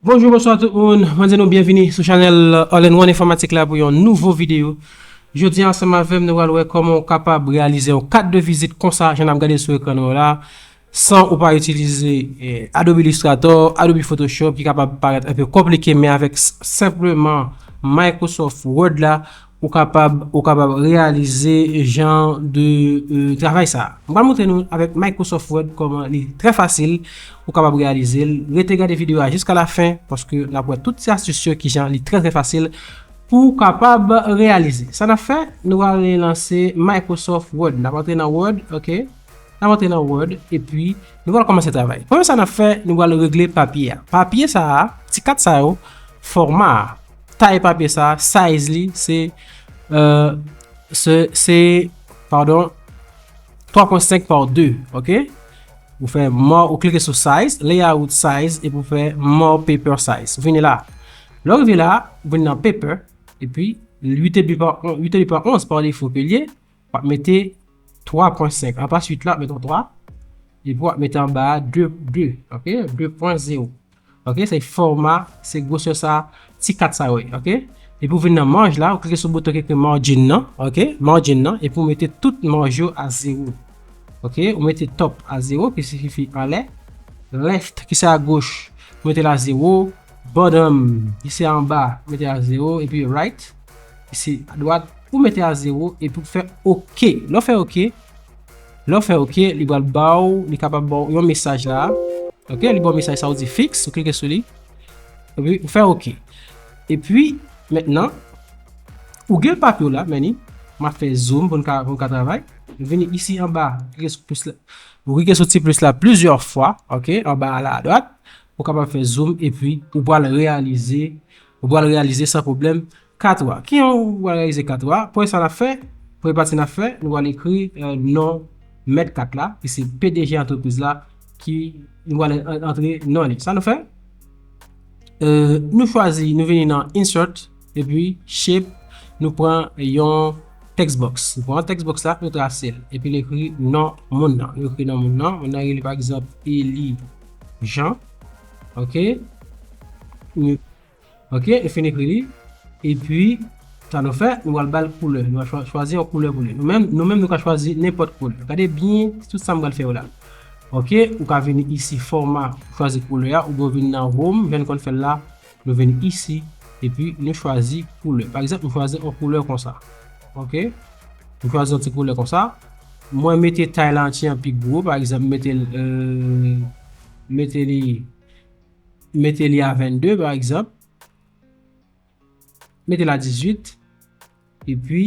Bonjou bonswa tout moun, mwen di nou byenvini sou chanèl All in One Informatik la pou yon nouvo videyo. Jodi an ansanm avèm nou pral wè kòman ou kapab reyalize yon kat de vizit konsa jan nap gade sou ekran nou yo la. San ou pa itilize Adobe Illustrator, Adobe Photoshop ki kapab parèt anpe konplike men avèk senpleman Microsoft Word la ou kapab ou kapab reyalize jan de travay sa. M pral montre nou avèk Microsoft Word kòman li trè fasil ou kapab reyalize l. Rete gade videyo a jiska la fen paske n ap wè tout ti astis yo kijan li trè trè fasil pou w kapab reyalize. Sa n ap fè, nou ale lanse Microsoft Word. N ap antre nan Word, ok. N ap antre nan Word epi nou pral kòmanse travay. Premye sa n ap fè, nou pral regle papye a. Papye sa a, ti kat sa yo, fòma a, tay papye sa a, size li se, se, padon, 3 pwen 5 pa 2, ok. Ou fè More, ou klike sou Size, Layout Size, epi ou fè More Paper Size. Ou vini la. Lè ou rive la, ou vini nan Paper, epi 8,5 pa 11 pa defo ke l ye, Wap mete 3.5 anplas 8 la wap mete yon 3 epi wap mete anba 2 ok 2.0 ok se fòma se gwosè sa ti kat sa yo ye ok epi ou vin nan maj la ou klike sou bouton ki ekri margin nan ok margin nan epi ou mete tout maj yo a 0 ok ou mete top a 0 ki siyifi anlè left ki se a goch ou mete l a 0 Bottom, isi anba, mete a 0, epi Right, isi adwat, ou mete a 0, epi ou fè ok. Lè ou fè ok, lè ou fè ok, li pral ba ou, li kapab ba ou yon mesaj la. Ok, li ba ou mesaj sa ou di fix, ou klike sou li. Epi ou fè ok. Epi, mentnan, ou gen papye ou la, meni, m ap fè zoom pou nou ka travay. Ou vini isi anba, ou klike sou ti plis la plizyè fwa, ok, anba a la adwat. Ou kapab fè zoom epi ou pral reyalize, ou pral reyalize san pwoblèm 4 wa. Ki jan ou pral reyalize 4 wa? Premye sa n ap fè, premye pati n ap fè, nou pral ekri non mèt 4 la, ki se pdg antrepriz la, ki nou pral antre non li. Sa nou fè? Nou chwazi, nou vini nan insert, epi shape, nou pran yon text box. Nou pran text box la, nou trase l. Epi nou ekri non moun nan. Nou ekri non moun nan, moun nan rele pa egzanp Eli. Jean. Ok. Nou. Ok, e fin ekri li. E pi, sa nou fè, nou al bal koulè. Nou al chwazi yon koulè pou li. Nou menm, nou menm nou ka chwazi nenpòt koulè. Gade byen tout sa m bal fè yo la. Ok, ou ka vini isi fòma, chwazi koulè a, ou byen vini nan home, jan nou konn fè l la. Nou vin isi, epi nou chwazi koulè. Pa egzanp, m chwazi yon koulè konsa. Ok. M chwazi yon ti koulè konsa. Mwen mete tay la anti an pi gwo. Pa egzanp, m mete l, m mete li, m mete li a 22, pa egzanp. M mete l a 18. Epi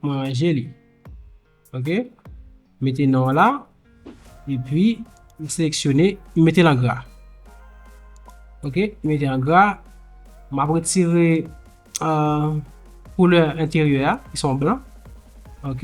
mwen ranje li. Ok. M mete non an la. Epi m seleksyone. M mete l an gra. Ok. M mete l an gra. M ap retire koulè enteryè a ki son blan. Ok.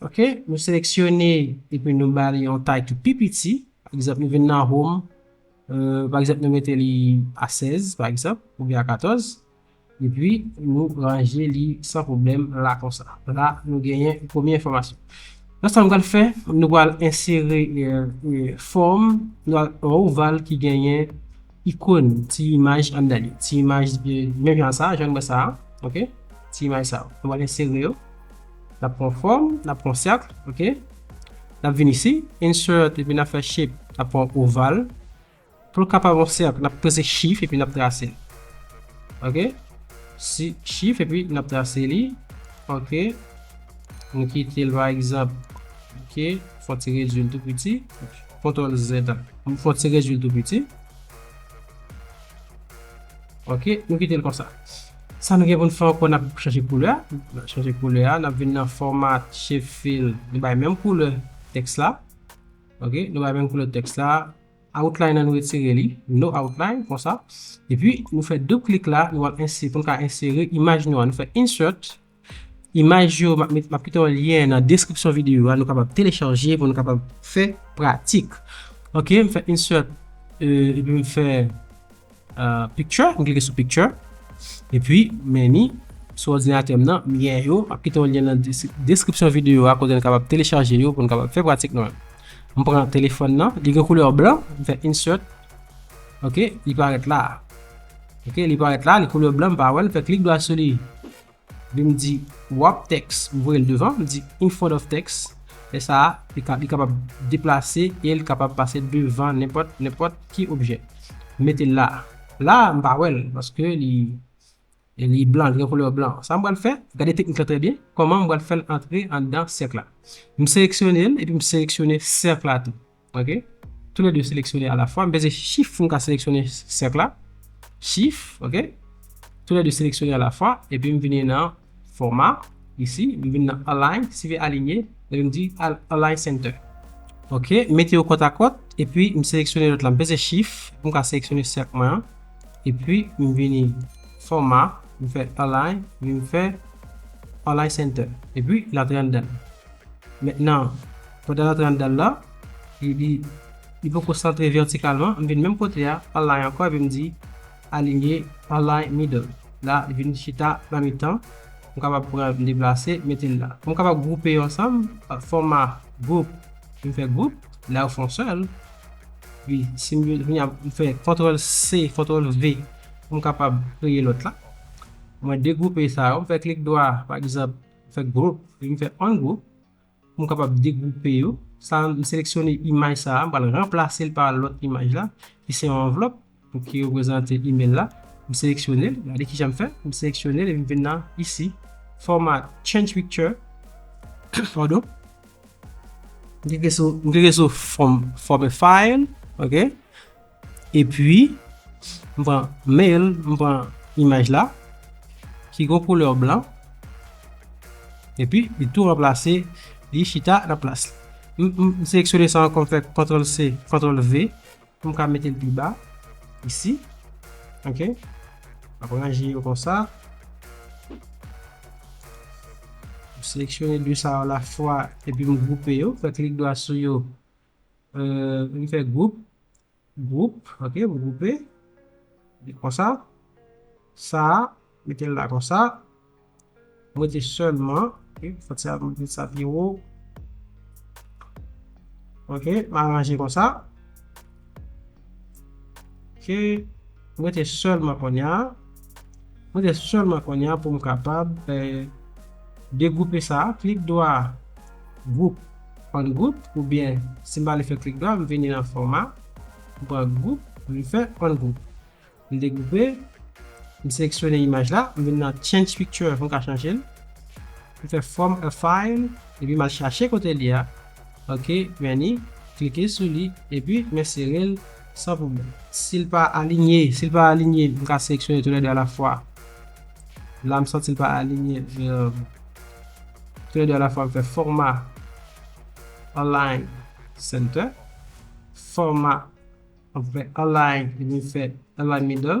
Ok, nou seleksyone epi nou ba li yon tay ki pi piti, pa egzanp nou vin nan home, pa egzanp nou mete li a 16 pa egzanp oubyen a 14, epi nou ranje li san pwoblèm la konsa. La nou genyen premye enfòmasyon. La sa nou pral fè, nou pral ensere fòm, nou pral pran yon oval ki genyen. Ikon, ti imaj anndan li. Ti imaj menm jan sa a, jan nou wè sa a. Ok. Ti imaj sa yo. Nou pral ensere yo. N ap pran fòm. N ap pran sèkl. Ok. N ap vin isi. Insert. Epi n ap fè shape. N ap pran oval. Pou l kapab yon sèkl, n ap peze shift epi n ap trase l. Ok. Si shift epi n ap trase li. Ok. Nou kite l pa egzanp. Ok. Fon ti redui l tou piti. Kontrol Z ap fon ti rejwi l tou piti. Ok, nou kite l konsa. Sa nou gen pou n fè ankò, n ap chanje koulè a. N ap chanje koulè a, n ap vin nan Format, Shapefill, nou bay menm koulè tèks la. Ok, nou bay menm koulè tèks la. Outline an nou retire li, No Outline, konsa. Epi, nou fè doub klik la, nou al ense, pou n ka ensere imaj nou an. Nou fè Insert, Imaj yo, m ap kite yon lyen nan deskripsyon videyo a, nou kapab telechaje pou nou kapab fè pratik. Ok, m fè insert, epi m fè picture, m klike sou picture, epi many, sou òdinatè m nan, lyen yo, m ap kite yon lyen nan deskripsyon videyo a kote nou kapab telechaje yo pou nou kapab fè pratik nou an. M pran telefòn nan, li gen koulè blan, m fè insert, ok, li parèt la a. Ok, li parèt la a, li koulè blan, m pa wè l, m fè klik dwa sou li. Li m di wrap text, m voye l devan, m di in front of text, lè sa a li ka li kapab deplase e l kapab pase devan nenpòt nenpòt ki objè. M mete l la a. La a m pa wè l paske li li blan, li gen koulè blan. Sa m pral fè, gade teknik la trè byen, kòman m pral fè l antre anndan sèk la. M seleksyone l epi m seleksyone sèk la tou. Ok Tou le 2 seleksyone a la fwa. M peze shift pou m ka seleksyone sèk la. Shift ok Tou le 2 seleksyone a la fwa. Epi m vini nan fòma isi. M vini nan align. Si ve alinye. Epi m di align center. Ok M mete yo kòt a kòt. Epi m seleksyone lòt la. M peze shift pou m ka seleksyone sèk mwen an. Epi m vini fòma. M fè align. Epi m fè align center. Epi l antre anndan l. Mentnan. Pandan l antre anndan l la, li li, li poko santre vètikalman, m vin menm kote a, align ankò epi m di, Alinye, align middle. La, li vin chita nan mitan, m kapab pran l, m deplase, mete l la. Pou m kapab gwoupe yo ansanm, fòma group, m fè group, la yo fon sèl, epi si m vle, kounye a, m fè kontwòl C, kontwòl V pou m kapab kreye lòt la. Mwen degwoupe sa yo, m fè klik dwa, pa egzanp, m fè group, epi m fè ungroup, M kapab degwoupe yo. Sa a, m seleksyone imaj sa a, m pral ranplase l pa lòt imaj la, ki se yon anvlòp pou ki reprezante imèl la. M seleksyone l, gade kijan m fè, m seleksyone l epi m vin nan isi, Format, Change Picture, padon, m klike sou Format File, ok, Epi, m pran mail, m pran imaj la, ki gon koulè blan, epi li tou ranplase, li chita nan plas li. M seleksyone sa ankò, m fè Ctrl C, Ctrl V, pou m ka mete l pi ba, isi. Ok. M ap ranje yo konsa. M seleksyone de sa yo la fwa, epi m gwoupe yo, fè klik dwa sou yo. Mwen fè gwoup, gwoup, ok, mwen gwoupe, li konsa, sa, mete l la konsa, mwen mete sèlman, ok, fòt sa mwen mete sa pi wo, ok, mwen aranje konsa, ok, mwen mete sèlman konya. Mwen gen selman konnya poum kapab degwoupe sa a klik dwa group on group oubyen sim pa ale fè klik dwa m vini nan fòma m pran group m fè on group m degwoupe m seleksyone imaj la m vin nan change picture poum ka chanjel. M fè from a file epi m al chache kote li a ok meni klike sou li epi mwen sere l san pwoblèm. Si l pa alinye si l pa alinye m ka seleksyone tou lè 2 a la fwa la m santi l pa alinye tou lè 2 a la fwa m fè fòma align center fòma m fè align epi m fè align middle.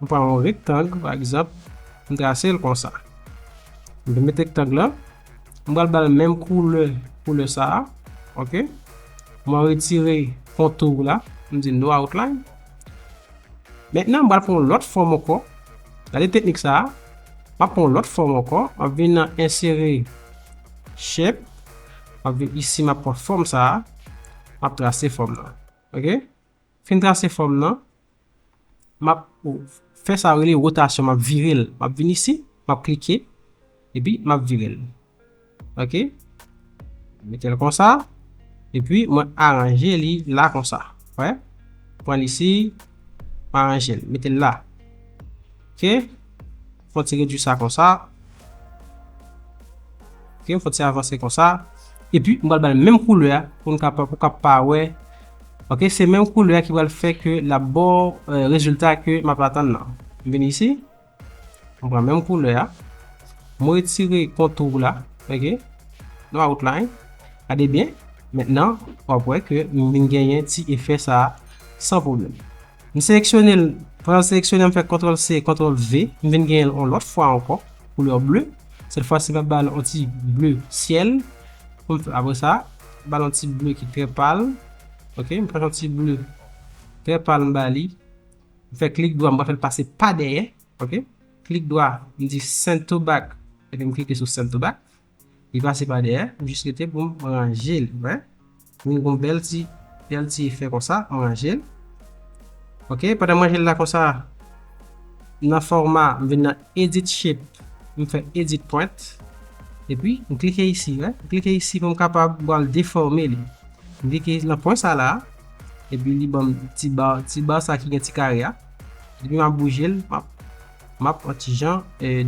M pran yon rektang pa egzanp, m trase l konsa. M vin met rektang lan, m pral ba l menm koulè, koulè sa a, ok. Mwen retire kontou la, m di no outline. Mentnan m pral pran yon lòt fòm ankò, gade teknik sa a, m ap pran yon lòt fòm ankò, m ap vin nan ensere shape, m ap vin isi m ap pran fòm sa a, m ap trase fòm lan, ok. Fin trase fòm nan, m ap fè sa yo rele rotasyon, m ap vire l. M ap vin isi, m ap klike, epi m ap vire l. Ok. M mete l konsa, epi mwen aranje li la konsa. Wè? M pran l isi, m aranje l, mete l la. Ok, fon ti redwi sa konsa. Ok, fon ti avanse konsa. E pi, m pral bay menm koulè a pou n kapab, pou kap pa wè. Ok, se menm koulè a ki pral fè ke l ap ba w rezilta ke m ap atann nan. M vini isi, m pran menm koulè a. M retire kontour la. Ok, nou a outline. Gade byen, mentnan, w ap wè ke m vin genyen ti efè sa a san pwoblèm. M seleksyone l, apre m seleksyone l m fè kontrol se kontrol ve, m vin genyen l on lòt fwa ankò koulè ble, sèt fwa si m ap ba l on ti ble syèl, pou m apre sa m ba l on ti ble ki trè pal ok, m pran on ti ble trè pal m ba li, m fè klik dwa m pral fè l pase pa dèyè ok, klik dwa m di send to back epi m klike sou send to back. Li pase pa dèyè, m jis rete pou m ranje li wè. Vin gon bèl ti bèl ti efè konsa, m ranje l. Ok, pandan m ranje l la konsa, nan fòma m vin nan edit shape, m fè edit point. Epi m klike isi wè, m klike isi pou m kapab pral defòme li. M klike nan pwen sa la, epi li banm ti bar, ti bar sa ki gen ti kare a. Epi m ap bouje l, m ap. Map pran ti jan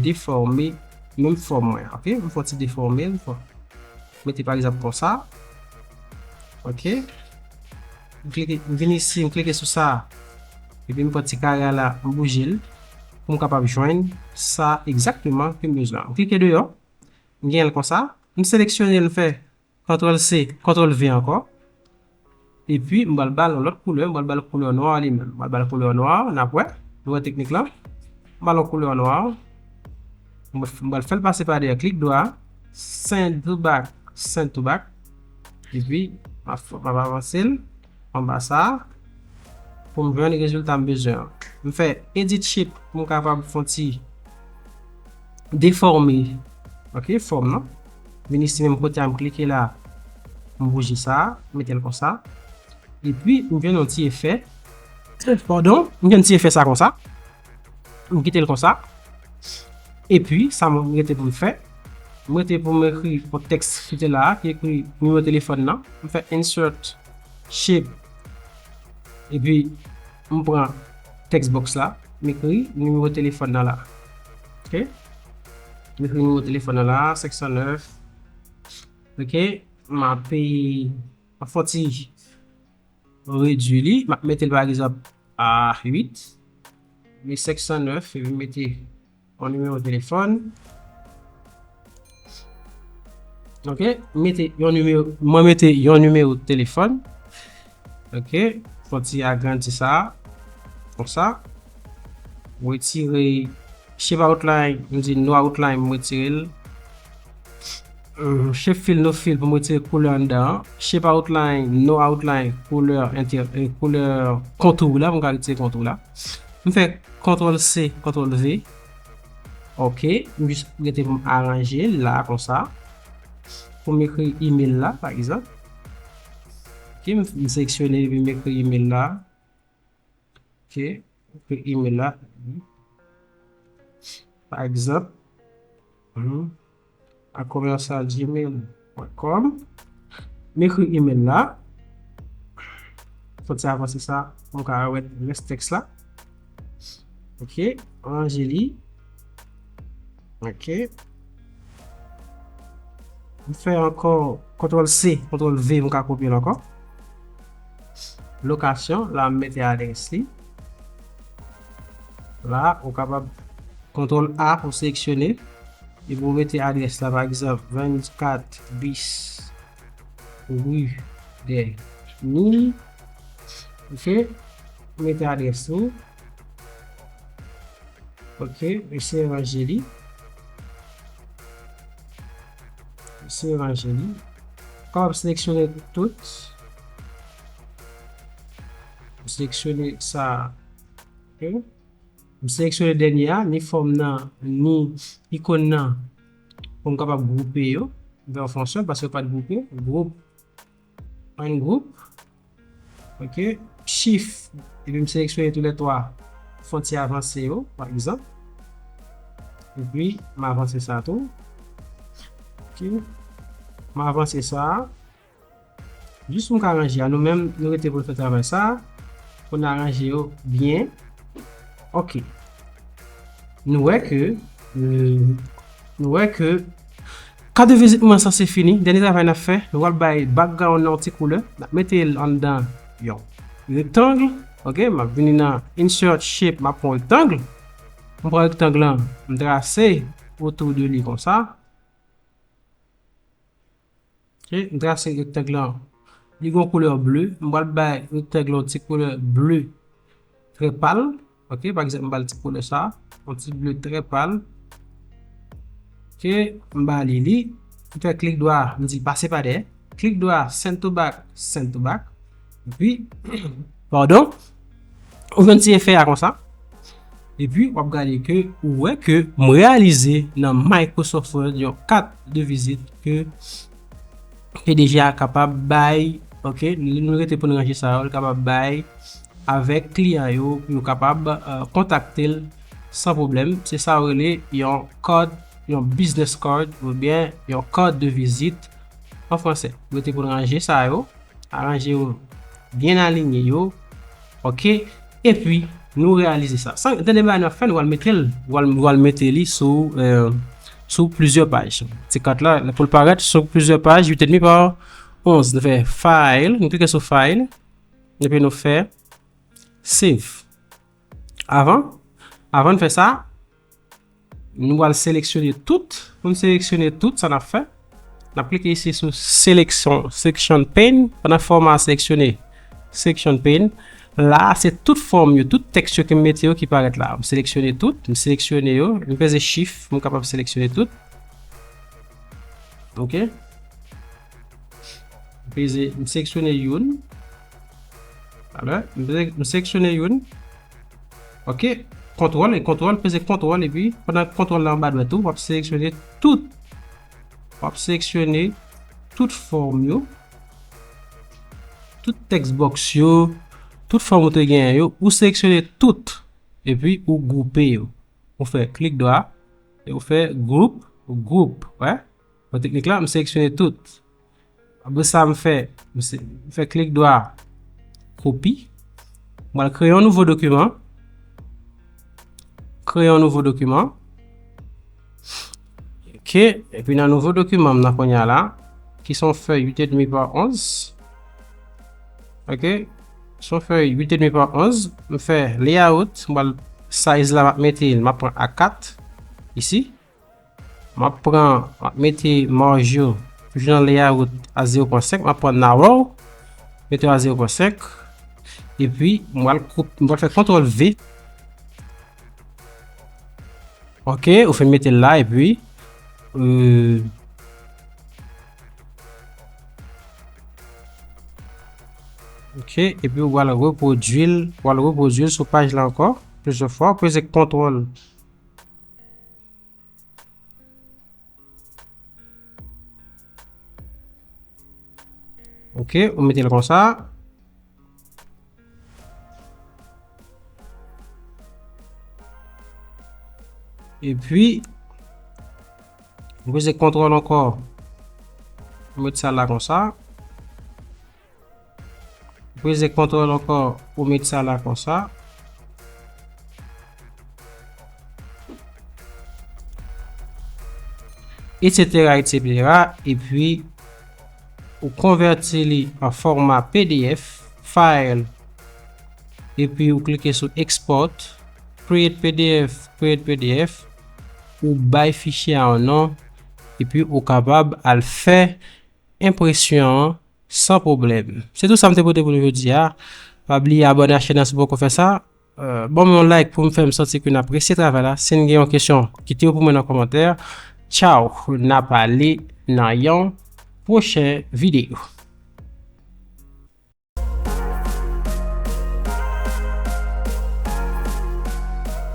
deforme menm fòm mwen ok m fon ti deforme l fon mete pa egzanp konsa ok m klike m vin isi m klike sou sa epi m pran ti kare a la m bouje l pou m kapab jwenn sa egzakteman ke m bezwen an m klike deyò m genyen l konsa m seleksyone l m fè Ctrl C Ctrl V ankò epi m pral bal yon lòt koulè m pral bal koulè nwa a li menm m pral bal koulè nwa a nap wè nou wè teknik lan m bal yon koulè nwa m pral fèl pase pa dèyè klik dwa send to back send to back epi map avansel. Anba sa a pou m jwenn rezilta m bezwen an. M fè Edit Shape pou m kapab fon ti defòme ok fòm nan. Vini si menm kote a m klike la m bouje sa a m mete l konsa. Epi m jwenn yon ti efè pardon m jwenn ti efè sa konsa. M kite l konsa. E pi, sa m rete pou m fè, m rete pou m ekri yon tèks ki te la a, ki ekri nimewo telefòn nan. M fè insert shape. E pi, m pran text box la, m ekri nimewo telefòn nan la. Ok. M ekri nimewo telefòn nan la a, 509. Ok. M ape, m ap fè yon ti. Mwen redwi li. M ap mete l pa egzanp a 8. M vin 509 epi m mete yon nimewo telefòn. Ok. M mete yon nimewo, mwen mete yon nimewo telefòn. Ok. Fon ti agrandi sa a. Konsa. M retire shape outline, m di no outline m retire l. Shape fill no fill pou m retire koulè anndan an. Shape outline no outline koulè koulè kontou w la pou m ka retire kontou w la. M fè kontrol C kontrol V ok m jis rete pou m aranje l la konsa pou m ekri email la pa egzanp ok m seleksyone epi m ekri email la. Ok, ekri email la. Pa egzanp, a commercial gmail point com. M ekri email la. Fon ti avanse sa pou m ka wè rès tèks la. Ok, m ranje li. Ok. M fè ankò kontrol C, kontrol V m ka kopye l ankò. Lokasyon, la m mete adrès li. La, ou kapab kontrol A pou seleksyone. E pou mete adrès la pa egzanp 24 bis rue des Mines. Ok. Mete adrès li. Ok, m eseye ranje li. M eseye ranje li. M kapab seleksyone tout. M seleksyone sa. Ok. M seleksyone dènye a, ni fòm nan, ni ikon nan. Pou m kapab gwoupe yo. Vè w fonksyon, paske yo pa t gwoupe. Gwoup. 1 group ok chif epi m seleksyone tou lè 3 fon ti avanse yo pa egzanp epi m avanse sa tou ok m avanse sa jis pou m ka ranje a nou menm nou rete pou n fè travay sa pou n aranje yo byen ok nou wè ke nou wè ke Kad de vizit mwen sanse fini, dènye travay n ap fè, nou pral bay background nan yon ti koulè, n ap mete l anndan yon rectangle, ok, m ap vini nan insert shape m ap pran yon rectangle, m pran rectangle lan m trase autour de li konsa, ok, m trase rectangle lan li gen yon koulè bleu, m pral bay rectangle lan yon ti koulè bleu trè pal. Ok pa egzanp m ba l ti koulè sa yon ti ble trè pal ok m ba li li m fè klik dwa m di l pase pa dèyè klik dwa send to back send to back epi padon ou jwenn ti efè a konsa epi w ap gade ke ou wè ke m reyalize nan Microsoft Word yon kat de vizit ke pdg a kapab bay ok nou rete pou n ranje sa yo li kapab bay avèk kliyan yo pou yo kapab kontakte l san pwoblèm se sa yo rele yon card yon business card oubyen yon card de visite an fransè rete pou n ranje sa yo aranje yo byen alinye yo Ok epi nou reyalize sa san tande bagay nap fè nou al metel nou al mete li sou sou plizyè paj ti kat la poul parèt sou plizyè paj 8 edmi pa 11 nou fè file nou klike sou file epi nou fè save avan avan nou fè sa. Nou pral seleksyone tout. Pou n seleksyone tout, sa n ap fè, n ap klike isi sou seleksyon, section pane. Pandan fòm a seleksyone, section pane, la a se tout fòm yo, tout tèks yo ke m mete yo ki parèt la a. M seleksyone tout, m seleksyone yo, m peze chif pou m kapab seleksyone tout. Ok. M peze, m seksyone youn. Alè, m peze, m seksyone youn. Ok, kontwòl, kontwòl, peze kontwòl epi, pandan kontwòl la anba dwèt ou, wap seleksyone tout, wap seleksyone tout fòm yo, tout tèks bòks yo, tout fòm ou te genyen yo, ou seleksyone tout, epi ou gwoupe yo. Ou fè klik dwa, e ou fè gwoup, gwoup, wè? Nan teknik la, m seleksyone tout. Apre sa, m fè, m fè klik dwa, kopi. M pral kreye yon nouvo dokiman. Kreye yon nouvo dokiman. Ok, epi nan nouvo dokiman m nan konya la, ki son fèy 8 edmi pa 11. Ok, son fèy 8 edmi pa 11. M fè layout, m pral size la m ap mete, m ap pran A4, isi. Map pran map mete marj yo toujou nan layout a 0.5 map pran narrow mete yo a 0.5 epi m pral koupe m pral fè kontrol V ok ou finn mete l la epi euh ok epi ou pral repwodui l ou pral repwodui l sou paj la ankò plizyè fwa ou peze kontrol Ok, ou mete l konsa. E pi, mwen se kontrol ankor. Mwen mete sa la konsa. Peze kontrol ankò pou met sa la konsa. Etc etc epi ou konvèti li an fòma pdf file epi ou klike sou export create pdf create pdf ou bay fichye a yon non epi ou kapab al fè enpresyon an. San pwoblèm. Se tout sa m te pote pou nou jodi a. Pa bliye abòne ak chèn nan si w poko fè sa. Ban m yon like pou m fè m santi ke n apresye travay la. Si n gen yon kesyon, kite yo pou mwen nan kòmantè. Tchaw! N ap ale nan yon pwochen videyo.